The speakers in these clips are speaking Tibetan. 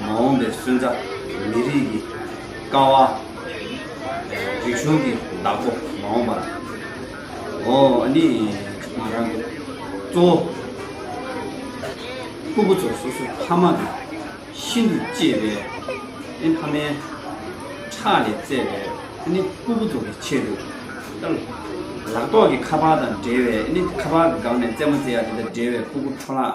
མ་འོངས་པའི་སོན་རྩ། མི་རིགས་ཀྱི་ཀ་བ། རིག་གཞུང་གི་བདག་པོ་མ་འོངས་པ། འོ་ནི་ང་རང་གི་གཙོ་བོ། སྐུ་བུ་ཚོ་སོ་སོའི་ཕ་མ་གི་ཤིན་ཏུ་གཅེས་པའི་ཨེ་ཕ་མའི་ཁྲག་ལས་བཙས་པའི་ཨེ་ནི་སྐུ་བུ་ཚོ་གི་ཆེད་དུ། ལག་ཐོག་གི་ཁ་པར་དང་འབྲེལ་བའི་ཨེ་ནི་ཁ་པར་སྒང་ནས་བཙས་མ་བཙས་ཡ་དེ་དང་འབྲེལ་བའི་སྤུ་གུ་འཕྲོ་བརླག་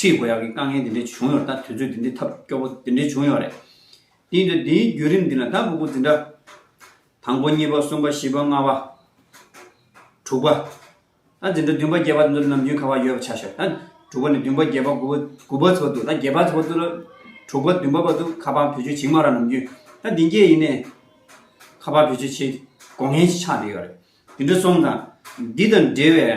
ཁྲིད་དགོས་ཡག་གི་དཀའ་ངལ་འདི་འདྲའི་བྱུང་ཡོང་ར་ད་དུས་ཚོད་འདི་འདྲའི་ཐབས་སྐྱོ་པོ་འདི་འདྲའི་བྱུང་ཡོང་རེད་དེ་ཡིན་དུས་འདིའི་བརྒྱུད་རིམ་འདི་ན་ད་འུ་གུ་འཛིན་གྲྭ་དང་པོ་གཉིས་པ་གསུམ་པ་བཞི་པ་ལྔ་བ། དྲུག་པ། ད་འཛིན་གྲྭ་བདུན་པ་བརྒྱད་པ་འདི་ཚོ་ནམ་རྒྱུན་ཁ་བ་ཡོད་པ་ཆགས་ཤོག་ད་དྲུག་པ་ནས་བདུན་པ་བརྒྱད་པ་དགུ་དགུ་པ་ཚོ་འདུག་ད་བརྒྱད་པ་ཚོ་འདུག་ད་དྲུག་པ་བདུན་པ་བ་འདུག་ཁ་བ་བུ་ཆུ་བྱིངས་མ་ར་ནམ་རྒྱུན་ད་འདི་འགྱེལ་ཡིན་ནས་ཁ་བ་བུ་ཆུ་བྱེད་དགོ་ངན་ཞིག་ཆགས་བསྡད་ཡོད་རེད་འདི་འདྲ་སོང་ཙང་འདི་དང་འབྲེལ་བའི།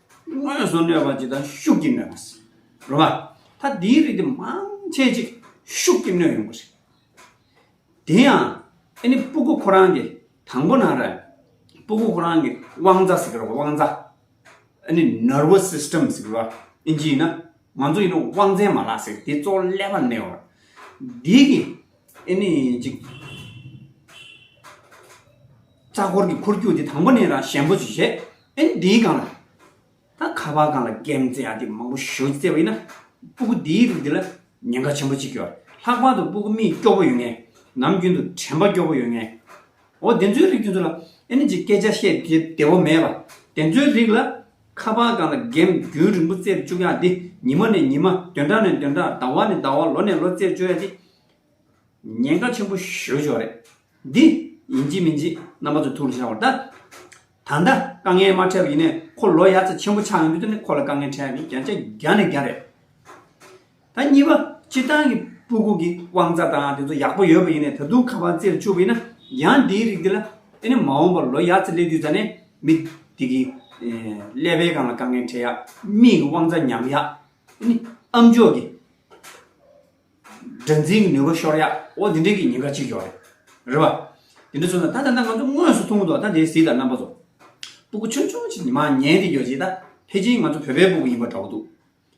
དངོས་སུ་གནོད་པ་ཇི་ལྟར་ཤུགས་ཀྱིས་གནོད་པ། རོ་བ། ད་དེའི་རིགས་དེ་མང་ཆེ་ཅིག་ཤུགས་ཀྱིས་གནོད་ཡོང་པ་རེད། དེ་ཡང་ཨེ་ནི་སྤུ་གུ་ཁོ་རང་གི་དང་པོ་ན་རེ། སྤུ་གུ་ཁོ་རང་གི་དབང་རྩ་ཟེར་གི་རོ་དབང་རྩ། ཨེ་ནི Nervous System ཟེར་གི་རོ། ཨིན་ཇི་ཡིན་ན། ང་ཚོ་ཡིན་ན་དབང་རྩའི་མ་ལག་ཟེར་གི་དེ་གཙོ་བོ་ཀླད་པར་གནས་བར། དེ་གི་ཨེ་ནི་ཅིག། རྩ་འཁོར་གྱི་འཁོར་རྒྱུག་དེ་དང་པོ་ནས་རང་ཞན་པོ་ཇི་བྱེད། ཨེ་འདི་གང་ལ། ད་ཁ་བ་གང་ལ་རྒན་མཛེས་ཨ་དེ་མང་པོ་ཞོ་བཙལ་བ་ཡིན་ན། སྤུ་གུ་འདིའི་རིགས་འདི་ལ་ཉེན་ཁ་ཆེན་པོ་གཅིག་ཡོད། ལྷག་པར་དུ་སྤུ་གུ་མིག་སྐྱོ་བོ་ཡོད་ངེས། ནམ་རྒྱུན་དུ་དྲན་པ་སྐྱོ་བོ་ཡོད་ངེས། འོ་དེ་ཚོའི་རིགས་དེ་ཚོ་ལ་ཨེ་ནི་ཅིག་སྐད་ཆ་བཤད་དེ་བདེ་བོ་མེད་པ། དེ་ཚོའི་རིགས་ལ། ཁ་བ་གང་ལ་རྒན་རྒྱུན་རིང་པོ་བཙལ་བཅུག་ཡག་འདི་ཉི་མ་ནས་ཉི་མ་བདུན་ཕྲག་ནས་བདུན་ཕྲག་ཟླ་བ་ནས་ཟླ་བ་ལོ་ནས་ལོ་བཙལ་བཅུག་ཡག་འདི། ཉེན་ཁ་ཆེན་པོ་ཞོ་ཞོ་རེད། འདི། ཡིན་གཅིག་མིན་གཅིག་རྣམ་པ་ཚོ་ཐུགས་ལ་འཆང་བར་གདའ། ད་ལྟ་དཀའ་ངལ་མ་འཕྲད་པ་ཡིན་ནས་ཁོ་ལོ་ཡ་ཚ་ཆེན་པོ་ཆགས་ཡོང་དུས་ནི་ཁོ་ལ་དཀའ་ངལ་འཕྲད་ཡ་མིན་རྒྱ་ཆ་རྒྱ་ནས་རྒྱ་རེད། ད་གཉིས་པ་སྤྱིར་བཏང་གི་པུ་གུ་གི་དབང་རྩ་དང་དེ་ཚོ་ཡག་པོ་ཡོད་པ་ཡིན་ནས་ད་དུང་ཁ་པར་རྩེར་བཅུག་པ་ཡིན་ན་ཡང་འདིའི་རིགས་འདི་ལ་དེ་ནི་མ་འོངས་པར་ལོ་ཡ་ཚ་སླེབས་དུས་ད་ནས་མི་དེ་གི་ཀླད་པའི་གང་ལ་དཀའ་ངལ་འཕྲད་ཡ་མིན་གི་དབང་རྩ་ཉམས་ཡ་ནི་ཨམ་ཅོག་གི། སྒྲ་འཛིན་གྱི་ནུས་པ་ཤོར་ཡག་འོ་འདི་འདྲས་ཀྱི་ཉེན་ཁ་གཅིག་ཡོག་རེད་རེད་བ། དེ་འདྲས་བཟོ་ན་ད་ད་ད་ང་ཚོ་དངོས་སུ་ཐུག་འདུག་ད་དེའི་གཟིགས་དང་རྣམ་པ་བཟོ། སྤུ་གུ་ཆུང་ཆུང་ཞིག་ཉི་མ་ཉལ་དེ་ཡོད་རྗེས་ད་ཕེ་ཅིན་ང་ཚོ་བོད་པའི་སྤུ་གུ་ཡིན་པ་འདྲ་བོ་འདུག་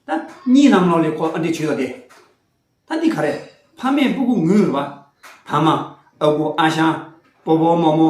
ད། གཉིས་ལམ་ལོག་ལས་ཁོ་ཨ་འདྲས་བྱོས་ཡོག་དེ། ད་འདི་ག་རེད་ཕ་མས་སྤུ་གུ་ངུས་རེད་བ། ཐ་མ། ཨ་གུ་ཨ་ཞང། པོ་པོ་མོ་མོ།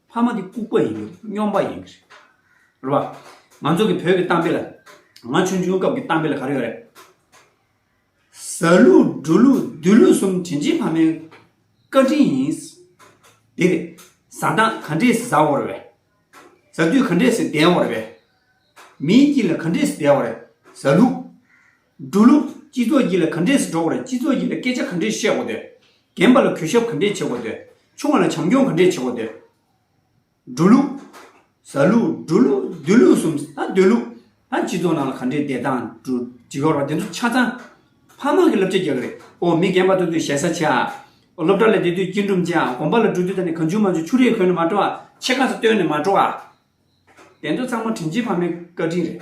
ཕ་མ་འདི་ལྐུག་པ་ཡིན་གྱི་རེད་སྙོམས་པ་ཡིན་གྱི་རེད། རེད་པ། ང་ཚོ་གི་བོད་ཀྱི་གཏམ་དཔེ་ལ། ང་ཆུང་ཆུང་སྐབས་ཀྱི་གཏམ་དཔེ་ལ་ག་རེ་ཡོད་རེད། ཟ་ལུག་འབྲུ་ལུག་བདུད་ལུག་གསུམ་དྲིན་ཅན་ཕ་མའི་བཀའ་དྲིན་ཡིན། དེ་རེད། ཟ་འདང་ག་འདྲས་ཟ་འོ་རེད་བས། ཟ་དུས་ག་འདྲས་བསྡད་འོ་རེད་བས། མིའི་དཀྱིལ་ལ་ག་འདྲས་བསྡད་འོ་རེད། ཟ་ལུག། འགྲོ་ལུགས། སྤྱི་ཚོགས་སྤྱི་ལ་ག་འདྲས་སུ་འགྲོ་དགོས་རེད་སྤྱི་ཚོགས་སྤྱི་ལ་སྐད་ཆ་ག་འདྲས་བཤད་དགོས་འདོད། རྒན་པ་ལ་གུས་ཞབས་ག་འདྲས་བྱེད་དགོས་འདོད། ཆུང་བ་ལ་བྱམས་སྐྱོང་ག་འདྲས་བྱེད་དགོས་འདོད། འགྲོ་ལུགས། ཟ་ལུགས། འགྲོ་ལུགས། སྡོད་ལུགས་གསུམ། ད་སྡོད་ལུགས། ད་སྤྱི་ཚོགས་ནང་ལ་ག་འདྲས་བསྡད་དང་འགྲོ། འོ་དེ་ཚོ་ཆ་ཚང། ཕ་མ་གི་བསླབ་བྱ་རྒྱག་གི་རེད། འོ་མི་རྒན་པ་ཐོབ་དུས་ཞེ་ས་བྱ། འོ་སློབ་གྲྭ་ལ་བསྡད་དུས་སྐྱིལ་ཀྲུང་བྱ། དགོན་པ་ལ་འགྲོ་དུས་ད་ནི་གང་བྱུང་མ་བྱུང་ཆུ་རེ་གོན་ནས་མ་འགྲོ་ཨ། ཕྱེད་ཀ་ཚོ་བཏོན་ནས་མ་འགྲོ་ཨ། དེ་ཚོ་ཚང་མ་དྲིན་ཆེན་ཕ་མའི་བཀའ་དྲིན་རེད།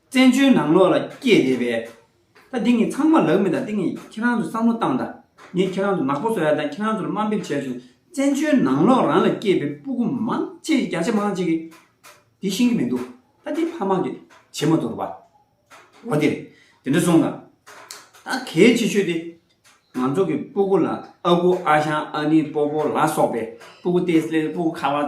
བཙན་བྱོལ་ནང་ལོགས་ལ་སྐྱེས་བསྡད་པས། ད་འདི་ངས་ཚང་མ་ལག་མི་ཐང་འདི་ངས་ཁྱེད་རང་ཚོས་བསམ་བློ་བཏང་དང། ངས་ཁྱེད་རང་ཚོ་ནག་པོ་བཟོ་ཡག་དང་ཁྱེད་རང་ཚོ་ལ་དམའ་འབེབས་བྱས་བྱུང་བཙན་བྱོལ་ནང་ལོགས་རང་ལ་སྐྱེས་པའི་སྤུ་གུ་མང་ཆེ་བརྒྱ་ཆ་མང་ཆེ་གི་དེ་ཤེས་ཀྱི་མི་འདུག་ད་འདི་ཕ་མ་གི་བྱེ་མ་དོར་བ། འོ་དེ་རེད་དེ་འདྲ་སོང་དང། ད་གལ་ཆེ་ཤོས་དེ། ང་ཚོ་གི་སྤུ་གུ་ལ་ཨ་ཁུ་ཨ་ཞང་ཨ་ནེ་སྤོ་པོ་ལ་སོགས་པའི་སྤུ་གུ་ཏེ་སེལ་སྤུ་གུ་ཁ་བ།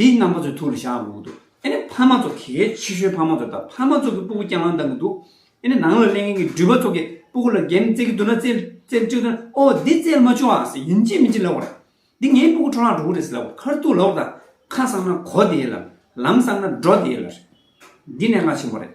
དེའི་རྣམ་པ་ཚོའི་ཐུགས་ལ་བཞག་འོང་གི་འདུག་ཨེ་ནས་ཕ་མ་ཚོ་གལ་ཆེ་ཤོས་ཕ་མ་ཚོ་དང་ཕ་མ་ཚོ་གི་སྤུ་གུ་རྐྱང་རྐྱང་བཏང་གི་འདུག་ཨེ་ནས་ནང་ལ་གླེང་མཁན་གྱི་སྦྲུལ་པ་ཚོ་གི་སྤུ་གུ་ལ་འགེམ་རྩེ་གི་འདུག་ན་རྩེ་རྩེ་གཅིག་ཐོན་ཨོ་འདི་རྩེ་ལ་མ་བཅུག་ཨ་ཟེར་ཡིན་ཅི་མིན་ཅི་ལབ་བར་འདི་ངའི་སྤུ་གུ་འཕྲོ་ལག་འགྲོ་གི་རེད་ཟེར་ལབ་བར་ཁར་ཐུག་ལོག་དང་ཁ་བསམ་ན་གོ་དེའི་ལམ་ལམ་བསམ་ན་འགྲོ་དེའི་ལར་འདི་གནད་འགག་ཆེན་པོ་རེད།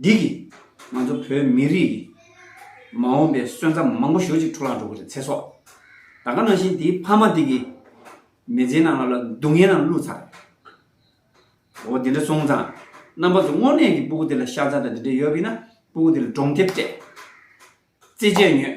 འདི་གིས་ང་ཚོ་བོད་མི་རིགས་ཀྱི་མ་འོངས་པའི་སོན་རྩ་མང་པོ་ཞོ་གཅིག་འཕྲོ་བརླག་འགྲོ་གི་རེད་ཚེ་སྲོག་ད་ག་ནང་བཞིན་དེའི་ཕ་མ་དེ་གི་མི་ཚེའི་ནང་ལ་སྡུག་བསྔལ་ནང་བླུགས་ཚར་རེད་འོ་དེ་འདྲ་སོང་ཙང་རྣམ་པ་ཚོ་དངོས་གནས་ཀྱི་སྤུ་གུ་དེ་ལ་ཤ་ཚ་དང་དེ་འདྲ་ཡོད་ཀི་ན་སྤུ་གུ་དེ་ལ་གྲོང་ཁྱེར་སྤྲད་རྩེད་སྤྱད་ཉོས་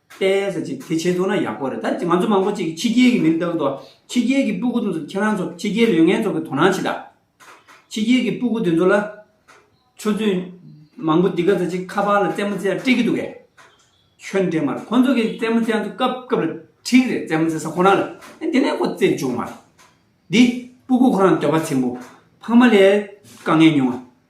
བལྟས་ཟེར་ཅིག་དེ་བྱེད་ཐུབ་ན་ཡག་པོ་རེད་ད་ང་ཚོ་མང་པོ་ཅིག་ཕྱི་རྒྱལ་གྱི་མིར་བལྟ་གི་འདུག་ཕྱི་རྒྱལ་གྱི་སྤུ་གུ་དེ་ཚོ་ཁྱེད་རང་ཚོ་ཕྱི་རྒྱལ་ལོས་ངན་ཚོ་གི་དོ་སྣང་བྱེད་དང། ཕྱི་རྒྱལ་གྱི་སྤུ་གུ་དེ་ཚོ་ལ། ཆུ་ཚོད་མང་པོ་འདི་ག་ཟེར་ཅིག་ཁ་པར་ལ་རྩེད་མོ་རྩེ་ཡ་སྤྲད་ཀྱི་འདུག་གས། ཁྱོད་འདྲེ་མ་རེད་ཁོ་ཚོ་གི་རྩེད་མོ་རྩེ་ཡ་འདུག་སྐབས་སྐབས་ལ་ཁྲིག་རེད་རྩེད་མོ་རྩེ་ས་ཁོ་རང་ལ་ཨེ་དེ་ནས་ཁོ་རྩེད་འཇུག་མ་རེད། འདི་སྤུ་གུ་ཁོ་རང་འདོད་པ་ཚིམ་པོ་ཕངས་མ་ལས་དཀའ་ངལ་ཉུང་ང།